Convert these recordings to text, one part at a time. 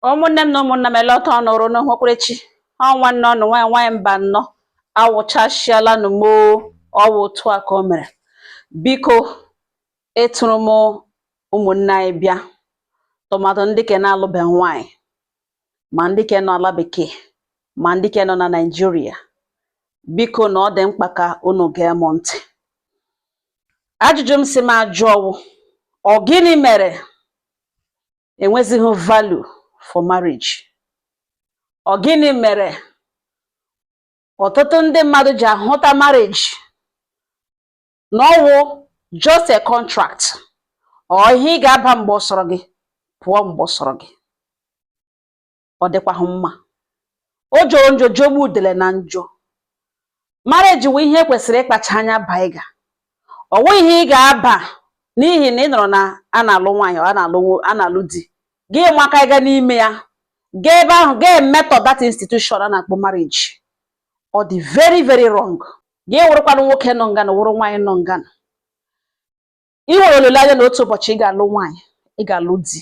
ụmụnne m na ụmụnna m ele otu ọnụ rụ n'ụhụkwerechi ọ nwanne ọnụ nwaanyị nwaanyị mbano awụchasịala nụ moo ọwụ otu a ka o mere biko etụrụ m ụmụnne anyị bịa tụmadụ ndị ke na-alụbe nwaanyị ma ndị ke nọ ala bekee ma ndị ke nọ na naijiria biko na ọ dị mkpa ka unu gee m ntị ajụjụ m si m ajụ ọwụ ọ gịnị mere enwezighị value for marriage ọ gịnị mere ọtụtụ ndị mmadụ ji ahụta marriage na ọwụ just a contract ọ ihe ị ga-aba mgbe ọ sọrọ gị pụọ mgbe ọ sọrọ gị ọ dịkwaghị mma ọ jọrọ njọ jogbu udele na njọ marriage wụ ihe kwesịrị ịkpacha anya baiga ọwụghị ihe ị ga-aba n'ihi na ị nụrụ na a na-alụ nwaanyị a na-alụ di gị maka ịga n'ime ya gaa ebe ahụ gaa emetọ that institution a na-akpọ marriage ọ dị very very wrong gị wụrụkwanụ nwoke nọ ngana wụrụ nwaanyị nọ ngana ị nwere olileanya na otu ụbọchị ị ga-alụ nwaanyị ị ga-alụ di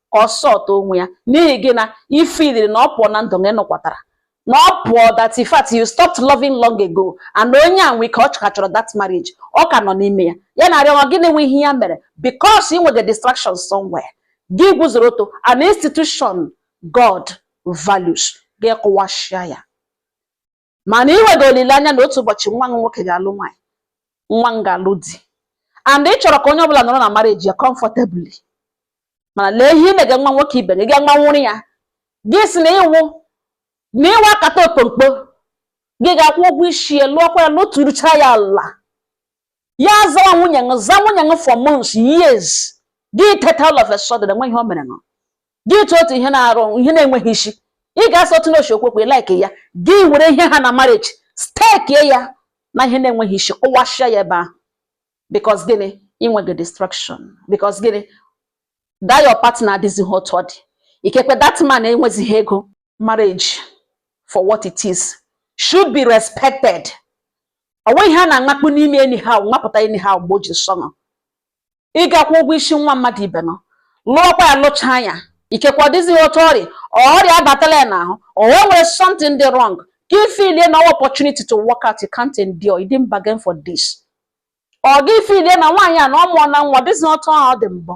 ka ọ sọta onwe ya n'ihi gị na ị feeliri na ọ pụọ na ndụ gị nụkwatara na ọ pụọ that in fact you stopped loving long ago and onye a nwe ike ọ ka chọrọ that marriage ọ ka nọ n'ime ya ya na-arịọ gị na enwe ihe ya mere because ị nwere distraction somewhere gị guzoro oto an institution God values gị kụwasịa ya mana ị nwere olileanya na otu ụbọchị nwa m nwoke ga-alụ nwaanyị nwa m ga-alụ di and ị chọrọ ka onye ọbụla nọrọ na marriage ya comfortably mana lee ihe i mega nwa nwoke ibe gị gaa nwanwụrụ ya gị si na ịwụ na ịwụ akata okpokpo gị ga-akwụ ụgwọ isi ya lụọkwa ya lụturucha ya ala ya azawa nwunye ṅụ za nwunye ṅụ for months years gị teta all of a sudden enwe ihe o mere ṅụ gị tụ otu ihe na-arụ ihe na-enweghị isi ị ga-asị otu n'ochi okwekwe like ya gị were ihe ha na marriage stekie ya na ihe na-enweghị isi kụwasịa ya ebe ahụ because gịnị i nwege distraction because gịnị that your partner adịghị otu ọ dị ikekwe that man enwezighị ego marriage for what it is should be respected ọwụghị ihe a na-amakpu n'ime anyhow mapụta anyhow mgbe o ji sọ ṅụ ị ga-akwụ ụgwọ isi nwa mmadụ ibe ṅụ lụọkwa ya lụcha anya ikekwe ọ dịzighị otu ọ rị ọrịa abatala ya n'ahụ o nwere something dị wrong gị feelie na ọwụ opportunity to walk out you can't endure you didn't bargain for this or gị feelie na nwaanyị a na ọ mụọna nwa adịzi otu ọ dị mbụ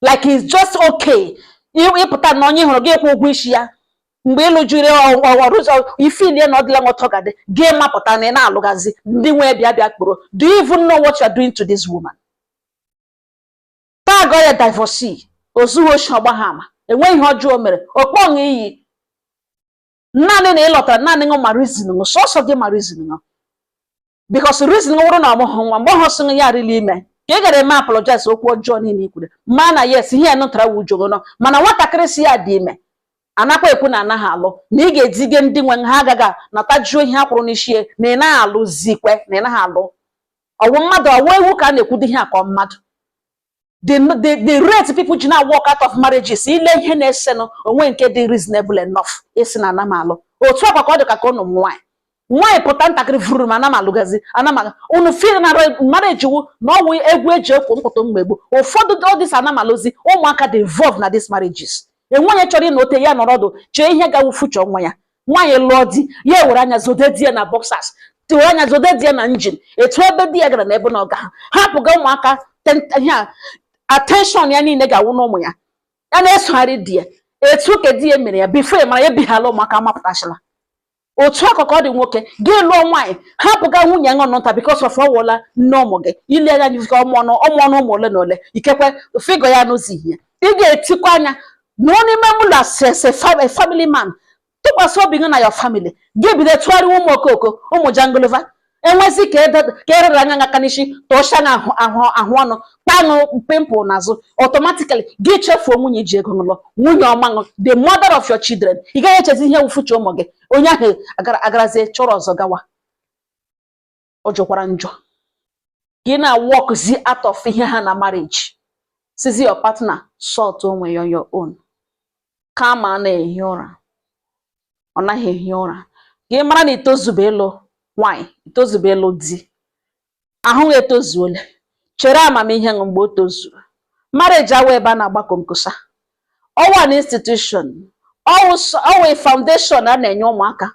like it's just okay ịpụta na onye ị hụrụ gị kwụ ụgwọ isi ya mgbe ịlụjiri ọrụ ụzọ i feelie na ọdịla nwọtọ gadị gị mapụta na ị na-alụgazi ndị nwee bịa bịa kpọrọ do you even know what you are doing to this woman tag ya divorcee ozughị oshi ọ gbaha ama enweghị ihe ọjọọ o mere ọ kpọ ṅụ iyi naanị na ị lọtara naanị ṅụ ma reason ṅụ sọsọ gị ma reason ṅụ because reason wụrụ na ọ mụhụ nwa mgbe ọhụ sị ya arịla ime ka ị gara eme apologize okwu ọjọọ niile ikwuru ma na yes ihe ya nụtara wu ujogo nọ mana nwatakịrị si ya dị ime anakwa ekwu na anaghị alụ na ị ga-ezige ndị nwe ha a ga-aga natajuo ihe a kwụrụ n'isi na ị naghị alụ zikwe na ị naghị alụ ọwụ mmadụ ọwụ ewu ka a na-ekwudo ihe a ka mmadụ the the the rate people ji na walk out of marriages ile ihe na-esenụ onweghị nke dị reasonable enough ịsị na ana m alụ otu a kwa ka ọ dị ka ka ụnụ ụmụ nwaanyị nwaanyị pụta ntakịrị vururum ana m alụgazi ana m alụ unu feel na marriage wụ na ọwụ egwu eji ekwo mkpụtụ mmegbu ụfọdụ all this ana m alụzi ụmụaka dị involved na these marriages enweghị onye chọrọ ịnụ ote ya nọrọ ọdụ chee ihe ga-awụ future nwa ya nwaanyị lụọ di ya ewere anya zode di ya na boxers tiwe anya zode di ya na jean etu ebe di ya gara na ebe na ọ gaha hapụga ụmụaka ihe a attention ya niile ga-awụ n'ụmụ ya ya na-esogharị di ya etu ka di ya mere ya before mara ya bighala ụmụaka mapụtachila otu a kwa ka ọ dị nwoke gị lụọ nwaanyị hapụga nwunye ṅụ nụnta because of ọwụla nne ụmụ gị ile anya nyizika ọmụọnụ ọmụọnụ ụmụ ole na ole ikekwe figure ya n'ụzọ ihe ị ga-etikwa anya na onye ime ụlọ as a family man tụkwasị obi gị na your family gị bido tụgharịwa ụmụ okoko ụmụ jangolova enwezi ka erere anya aka n'isi tụọcha na ahụ ahụ ọnụ kpa ṅụ pimple n'azụ automatically gị chefuo nwunye i ji ego ṅụ lụọ nwunye ọma ṅụ the mother of your children ị gaghị echezi ihe wụ future ụmụ gị onye ahụ agharazie chọrọ ọzọ gawa ọ jọkwara njọ gị na-walkzi out of ihe ha na marriage sizi your partner sort onwe ya your own kama a na-ehi ụra ọ naghị ehi ụra gị mara na itozube ịlụ nwanyị itozube ịlụ di ahụ etozuola chere amamihe ṅụ mgbe o tozuru marriage awa ebe a na-agba komkosa ọwụ an institution ọwụ foundation a na-enye ụmụaka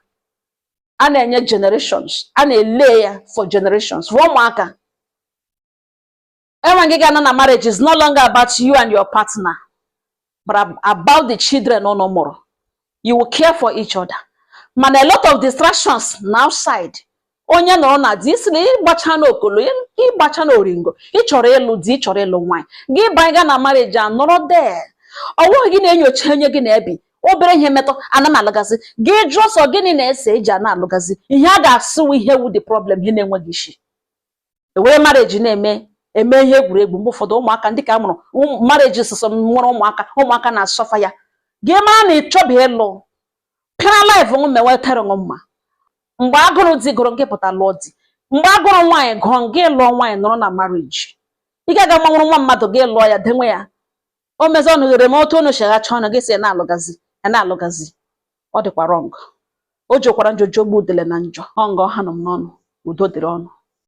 a na-enye generations a na-ele ya for generations for ụmụaka enwe gị ga-anọ na marriage is no longer about you and your partner but about the children ụnụ mụrụ you will care for each other mana a lot of distractions na outside onye nọrọ na di i si na ị gbachana okolo ị gbachana oringo ịchọrọ ịlụ di ịchọrọ ịlụ nwaanyị gị banye gaa na marriage a nọrọ there ọwụghị gị na-enyocha onye gị na ya bi obere ihe metụ ana m alụgazi gị jụọ sị ọ gịnị na-ese eji ana alụgazi ihe a ga-asị wụ ihe wụ the problem ihe na-enweghị isi e were marriage na-eme eme ihe egwuregwu mgbe ụfọdụ ụmụaka ndị ka a mụrụ marriage sọsọ nwere ụmụaka ụmụaka na-asuffer ya gị mara na ị chọbe ịlụ pịara life nwa mewe tere nwa mma mgbe agụrụ di gụrụ gị pụta lụọ di mgbe agụrụ nwaanyị gụọ gị lụọ nwaanyị nọrọ na marriage ị ga-aga ma nwụrụ nwa mmadụ gị lụọ ya dewe ya o mezi ọnụ ghere m otu unu cheghachi ọnụ gị sị na-alụgazi ana alụgazi ọ dịkwa wrong ọ jọkwara njọ jogbu udele na njọ ọ nga ọ hanụ m n'ọnụ udo dịrị unu